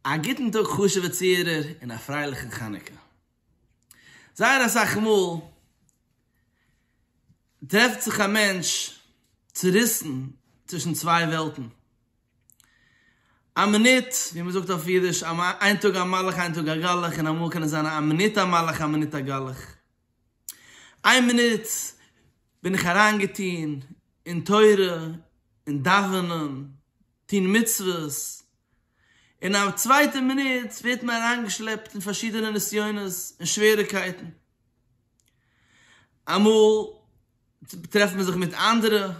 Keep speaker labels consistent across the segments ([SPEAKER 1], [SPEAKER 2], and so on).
[SPEAKER 1] א גוטן טאג חשוב'ע צוהערער און א פרייליכן חנוכה. זייער אסאך מאל טרעפט זיך א מענטש צוריסן צווישן צוויי וועלטן. א מינוט, ווי מען זאגט אויף אידיש, איין טאג א מלאך איין טאג א גלח, און אמאל קען עס זיין א מינוט א מלאך א מינוט א גלח. איין מינוט בין איך אריינגעטון אין תורה, אין דאווענען, טון מצוות, און אין א צווייטע מינוט ווערט מען אריינגעשלעפט אין פארשידענע נסיונות און שוועריגקייטן, אמאל טרעפט מען זיך מיט אנדערע,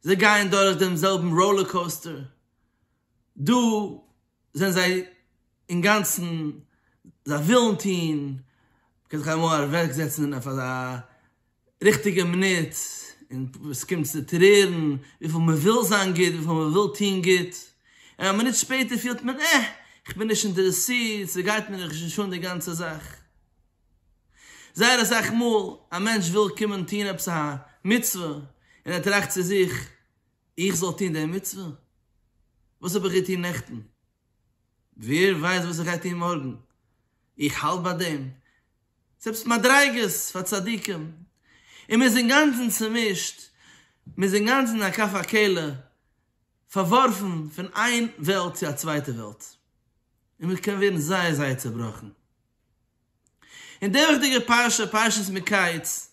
[SPEAKER 1] זיי גייען דורך דעם זעלבן ראולער קאוסטער, דא זענען זיי אינגאנצן, זיי ווילן טון, מ'קען זיך אמאל אוועקזעצן און אויף אזא ריכטיגע מינוט, און עס קומט צו טרערן, וויפיל מ'וויל זיין גוט, וויפיל מ'וויל טון גוט, און א מינוט שפעטער פילט מען, אה, כ'בין נישט אינטערעסירט, ס'גייט מיר נישט אן די גאנצע זאך. זייער אסאך מאל, א מענטש וויל קומען טון עפעס א מצוה, און ער טראכט צו זיך, איך זאל טון די מצוה? וואס האב איך געטון נעכטן? ווער ווייסט וואס איך גיי טון מארגן? איך האלט ביי דעם? זעלבסט מדריגות פאר צדיקים, און מען איז אינגאנצן צומישט, מען איז אינגאנצן א כף הקלע, פארווארפן פון איין וועלט צו א צווייטע וועלט, און מען קען ווערן זייער זייער צעבראכן. און די וועכטיגע פרשה, פרשת מקץ,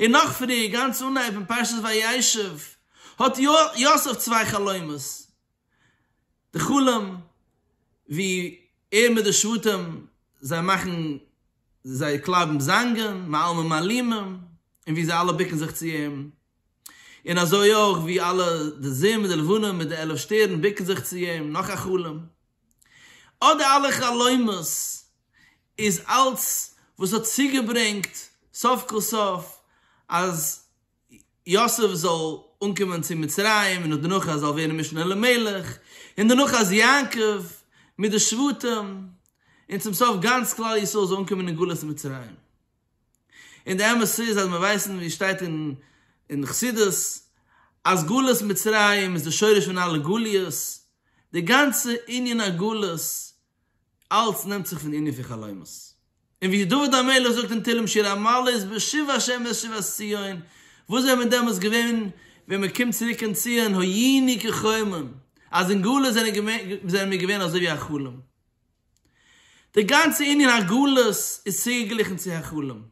[SPEAKER 1] און נאך פריער, גאנץ אנהייב אין פרשת וישב, האט יוסף צוויי חלומות, די חלום ווי ער מיט די שבטים, זיי מאכן, זיי קלייבן זאנגען, מעלמין מעלימים, און ווי זיי אלע בוקן זיך צו אים, און אזוי אויך ווי אלע די זון מיט די לבנה מיט די עלף שטערן בוקן זיך צו אים, נאך א חלום, אט די אלע חלומות. איז אלץ וואס האט צוגעברענגט סוף כל סוף אז יוסף זאל אנקומען צו מצרים און דערנאך אז ער זאל ווערן משנה למלך און דערנאך אז יעקב מיט די שבטים און צום סוף גאנץ כלל ישראל זאל אנקומען אין גלות מצרים. און די אמת איז אז מיר ווייסן ווי עס שטייט אין חסידות אז גלות מצרים איז די שורש פון אלע גליות, די גאנצע ענין הגלות אלץ נעמט זיך פון ענין פון חלומות. און ווי דוד המלך זאגט אין תהלים שיר א מעלות בשיבה השם ואת שיבת ציון, וואס זענען מיר דעמאלטס געווען ווען מען קומט צוריק אין ציון היינו כחלום, אז אין גלות זענען מיר געווען אזוי ווי א חלום. די גאנצע ענין הגלות איז צוגעגליכן צו א חלום.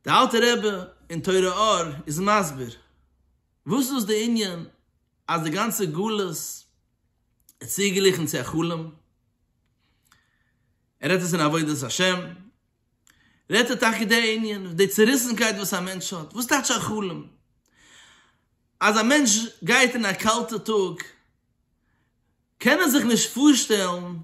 [SPEAKER 1] די אלטע רבי אין תורה אור איז מסביר וואס איז דאס די ענין אז די גאנצע גלות צוגעליכענט צו א חלום, ער רעדט עס אין עבודת השם, רעדט ער טאקע די ענין, די צעריסענקייט וואס א מענטש האט, וואס טייטש א חלום, אז א מענטש גייט אין א קאלטע טאג, קען ער זיך נישט פארשטעלן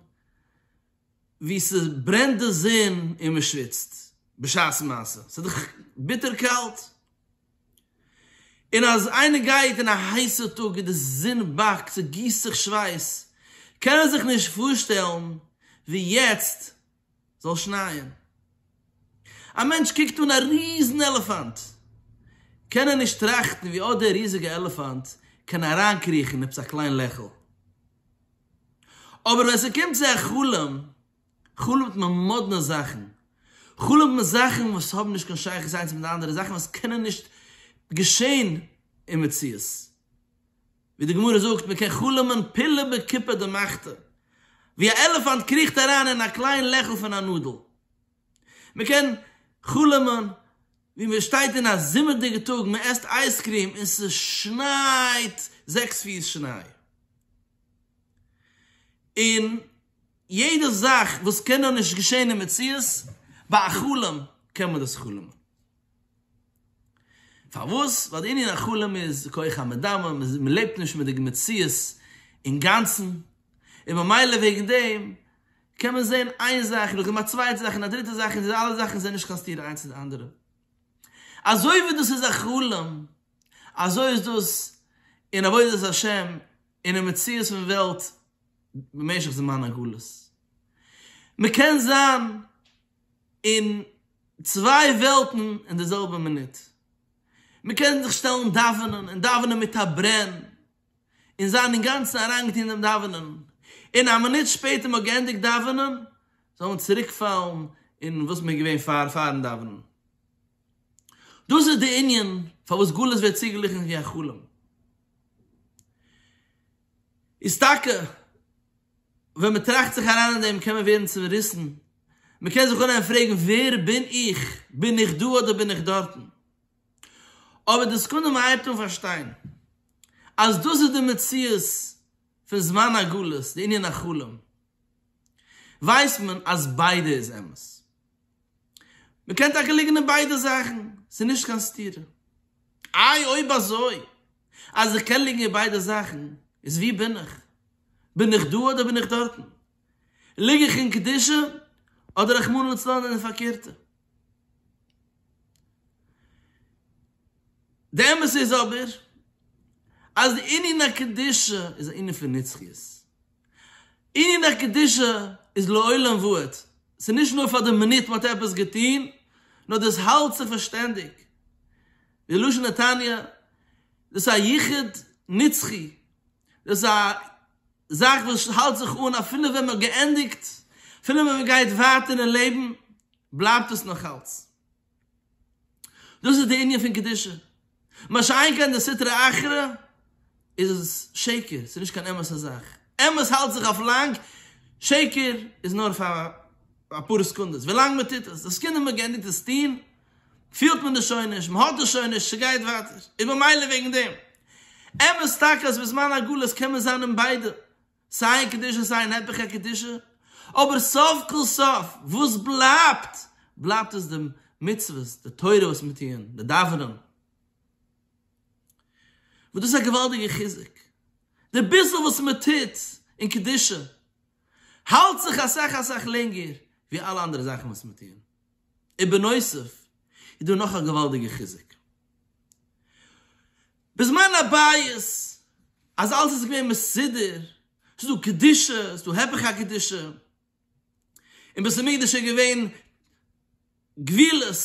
[SPEAKER 1] ווי ס'ברענט די זון און מ'שוויצט בשעת מעשה, ס'איז דאך ביטער קאלט. און אז איינער גייט אין א הייסע טאג און די זון באקט, ס'גיסט זיך שווייס, קען ער זיך נישט פארשטעלן ווי יעצט זאל שנייען. א מענטש קוקט אן א ריזן עלעפאנט, קען ער נישט טראכטן ווי אט דער ריזיגע עלעפאנט קען אריינקריכן עפעס א קליין לעכל. אבער ווען ס'קומט צו א חלום, חלומ'ט מען מאדנע זאכן. חלומ'ט מען זאכן וואס האבן נישט קיין שייכות איינס מיט די אנדערע, זאכן וואס קענען נישט געשען אין מציאות. ווי די גמרא זאגט, מען קען חלומ'ען פלא בקופה דמחתא, ווי א עלעפאנט קריכט אריין אין א קליין לעכל פון א נאדל. מען קען חלומ'ען ווי מען שטייט אין א זומער'דיגע טאג, מען עסט אייזקריעם און ס'שנייט זעקס פיס שניי. און. יעדע זאך וואס קען נאר נישט געשען אין מציאות, ביי א חלום קען מען דאס חלומ'ן. פארוואס? ווייל די ענין החלום איז כח המדמה, מען לעבט נישט מיט די מציאות אינגאנצן, און ממילא וועגן דעם קען מען זען איין זאך נאכדעם א צווייטע זאך און א דריטע זאך און די אלע זאכן זענען נישט קיין סתירה איינס צו די אנדערע. אזוי ווי דאס איז א חלום, אזוי איז דאס אין עבודת השם. אינעם מציאות פון וועלט במשך זמן הגלות. מ'קען זיין אין צוויי וועלטן אין די זעלבע מינוט. מ'קען זיך שטעלן דאווענען און דאווענען מיט א ברען און זיין אינגאנצן אריינגעטון אינעם דאווענען, און א מינוט שפעטער מ'האט געענדיגט דאווענען זאל מען צוריקפאלן אין וואס מ'איז געווען פאר פאר'ן דאווענען. דאס איז דער ענין פארוואס גלות ווערט צוגעגליכן ווי א חלום. איז טאקע ווען מען טראכט זיך אריין אין דעם קען מען ווערן צעריסן, מען קען זיך אנהייבן פרעגן ווער בין איך, בין איך דא אדער בין איך דארטן? אבער די סעקונדע מען הייבט אן פארשטיין אז דאס איז די מציאות פון זמן הגלות, די ענין החלום, ווייסט מען אז ביידע איז אמת. מ'קען טאקע ליגן אין ביידע זאכן, ס'איז נישט קיין סתירה. איי אויב אזוי, אז איך קען ליגן אין ביידע זאכן, איז וואו בין איך? בין איך דא אדער בין איך דארטן? ליג איך אין קדושה אדער רחמנא לצלן אין די פארקערטע? די אמת איז אבער, אז די ענין הקדושה איז א ענין פון נצחיות. עניני קדושה איז לעולם ועד, ס'איז נישט נאר פאר די מינוט מען האט עפעס געטון, נאר דאס האלט זיך פאר שטענדיג, ווי לשון התניא, דאס איז א יחוד נצחי, דאס איז א זאך וואס האלט זיך אן אפילו ווען מען האט געענדיגט, אפילו ווען מען גייט ווייטער אין לעבן, בלייבט עס נאכאלץ. דאס איז די ענין פון קדושה. מה שאין כן די סטרא אחרא איז עס שקר, ס'איז נישט קיין אמת'ע זאך. אמת האלט זיך אויף לאנג, שקר איז נאר פאר אפאר סעקונדעס, ווילאנג מען טוט עס. די סעקונדע מען גענדיגט עס טון, פילט מען עס שוין נישט, מען האט עס שוין נישט, ס'גייט ווייטער. איז ממילא וועגן דעם. אמת טאקע אז בזמן הגלות קען מען זיין אין ביידע. סיי אין קדושה סיי אין היפך הקדושה, אבער סוף כל סוף וואס בלייבט? בלייבט עס די מצוות, די תורה וואס מיר טוען, די דאווענען, וואס דאס איז א געוואלדיגע חיזוק, די ביסל וואס מען טוט אין קדושה האלט זיך אסאך אסאך לענגער ווי אלע אנדערע זאכן וואס מיר טוען, און בנוסף איז דא נאך א געוואלדיגע חיזוק, בזמן הבית אז אלעס איז געווען מסודר, ס'איז דא קדושה, ס'איז דא הפך הקדושה, אין בית המקדש איז געווען גבולות,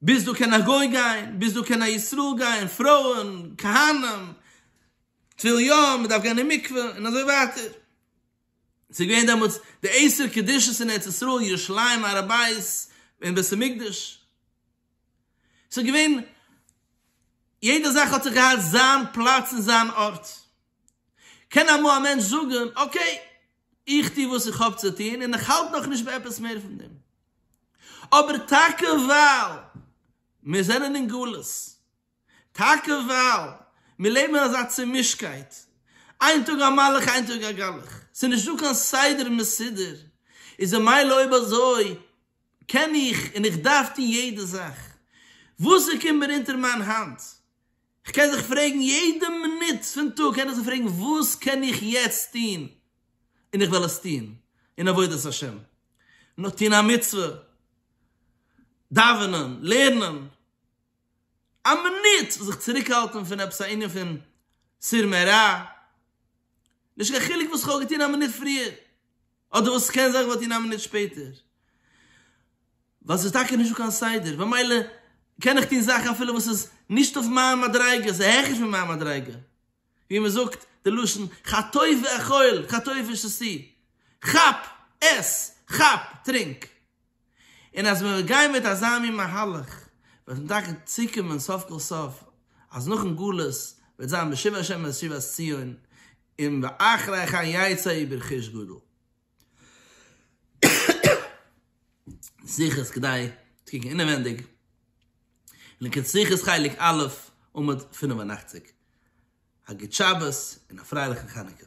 [SPEAKER 1] ביז דא קען א גוי גיין, ביז דא קען א ישראל גיין, פרויען, כהנים, טביל ים, מען דארף גיין אין מקווה, און אזוי ווייטער. ס'איז געווען דעמאלטס די עשר קדושות אין ארץ ישראל, ירושלים, הר הבית, און בית המקדש. ס'איז געווען, יעדע זאך האט זיך געהאט זיין פלאץ און זיין ארט. קען אמאל א מענטש זאגן, אקעי, איך טו וואס איך האב צו טון און איך האלט נאכנישט ביי עפעס מער פון דעם. אבער טאקע ווייל מיר זענען אין גלות, טאקע ווייל מיר לעבן אין אזא צומישטקייט, איין טאג א מלאך איין טאג א גלח, ס'איז נישטא קיין סדר מסודר, איז ממילא אויב אזוי, קען איך און איך דארף טון יעדע זאך וואס ער קומט מיר אונטער מיין האנט, איך קען זיך פרעגן יעדע מינוט פון טאג קען איך זיך פרעגן וואס קען איך יעצט טון און איך וועל עס טון אין עבודת השם, נאר טון א מצוה, דאווענען, לערנען, א מינוט זיך צוריק האלטן פון עפעס א ענין פון סור מרע, נישט קיין חילוק וואס איך האב געטון א מינוט פריער. אדער וואס עס קען זיין איך וואלט איר א מינוט שפעטער, ווייל ס'איז טאקע נישט דא קיין סדר, במילא קען איך טון זאכן אפילו וואס איז נישט אויף מיין מדריגה, ס'איז העכער פון מיין מדריגה, ווי מען זאגט די לשון חטוף ואכול, חטוף איז שסי, כאפ, עס, כאפ, טרינק. און אז מ'וועט גיין מיט אזא מין מהלך וועט מען טאקע צוקומען סוף כל סוף אז נאכן גלות וועט זיין בשוב ה' אל שיבת ציון און ואחרי כן יצא אי ברכוש גדול. שיחות כדאי צו קוקן אינעווענדיג, לקוט שיחות חלק א' עמוד פֿינף און אַכציק. א גוט שבת און א פרייליכן חנוכה.